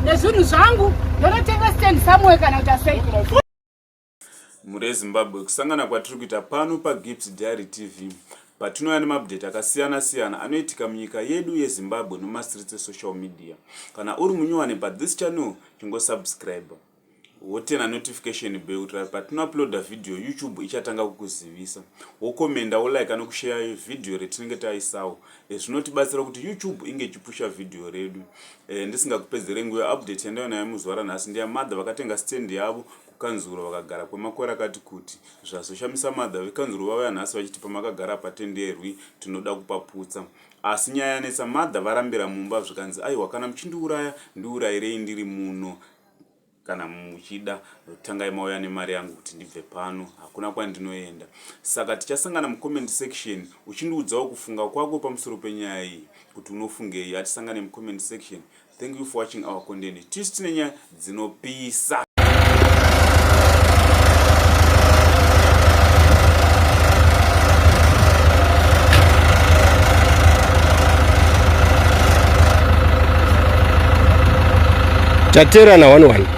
nezvinhu zvangu ndonotenga stand somewhere kana kuti asei mhuri yezimbabwe kusangana kwatiri kuita pano pagips diary tv patinouya nemaupdate akasiyana siyana anoitika munyika yedu yezimbabwe nemastreets esocial media kana uri munyowani pathis channel chingosubscriber wotena notification bell kuitira kuti patinouploada vhidhiyo youtube ichatanga kukuzivisa wokomenda wolike anokusheya vhidhiyo retinenge taisawo eh, zvinotibatsira kuti youtube inge ichipusha vhidhiyo redu eh, ndisingakupedzere nguva update yandaiva nayo muzuva ranhasi ndiya madha vakatenga stand yavo kukanzuro vakagara kwemakore akati kuti zvazoshamisa madha vekanzuro vavaya nhasi vachiti pamakagara patenderwi tinoda kupaputsa asi nyaya yanetsa madha varambira mumba zvikanzi aiwa kana muchindiuraya ndiurayirei ndiri muno kana muchida tangai mauya nemari yangu kuti ndibve pano hakuna kwandinoenda saka tichasangana mucomment section uchindiudzawo kufunga kwako pamusoro penyaya iyi kuti unofungei hatisangane mucomment section thank you for watching our content tisi tine nyaya dzinopisa taterana one one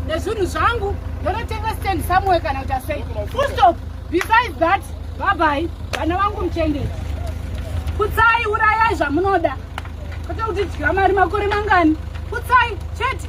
nezvinhu zvangu ndonotenga stand somewhere kana kuti asei full stop besides that babai vana vangu muchendei kutsai urayai zvamunoda kwete kuti dya mari makore mangani kutsai chete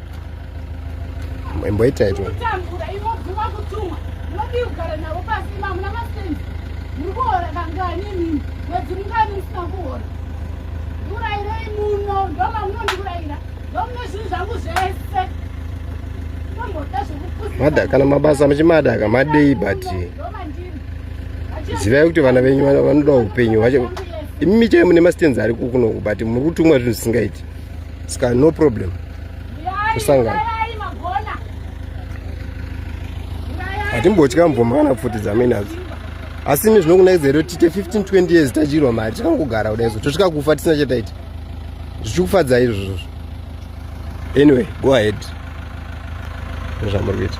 imboita ito ndikurairei muno ndomamunondiuraira ndomune zvinhu zvangu zvese mada kana mabasa muchimada ka madei but zivai kuti vana venyu vanoda upenyu hwacho imi michai mune mastenzi ari kukunoku but muri kutumwa zvinhu zvisingaiti ska no problem kusangana hatimbotya mvumba kana pfuti dzamenadzo asi ini zvinokunakidza here kuti tiite 15 20 years tadyirwa mari tikangogara kuda izvo tosvika kufa tisina chataita zvichikufadza izvozvo anyway go ahead nezvamuri kuita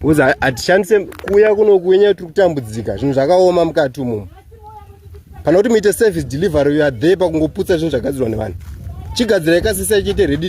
Because hatishandise kuya kunoku wenyaya tiri kutambudzika zvinhu zvakaoma mukati umomo. Kana kuti muite service delivery you are there pakungoputsa zvinhu zvagadzirwa nevanhu. Chigadzirai kasisa ichiite ready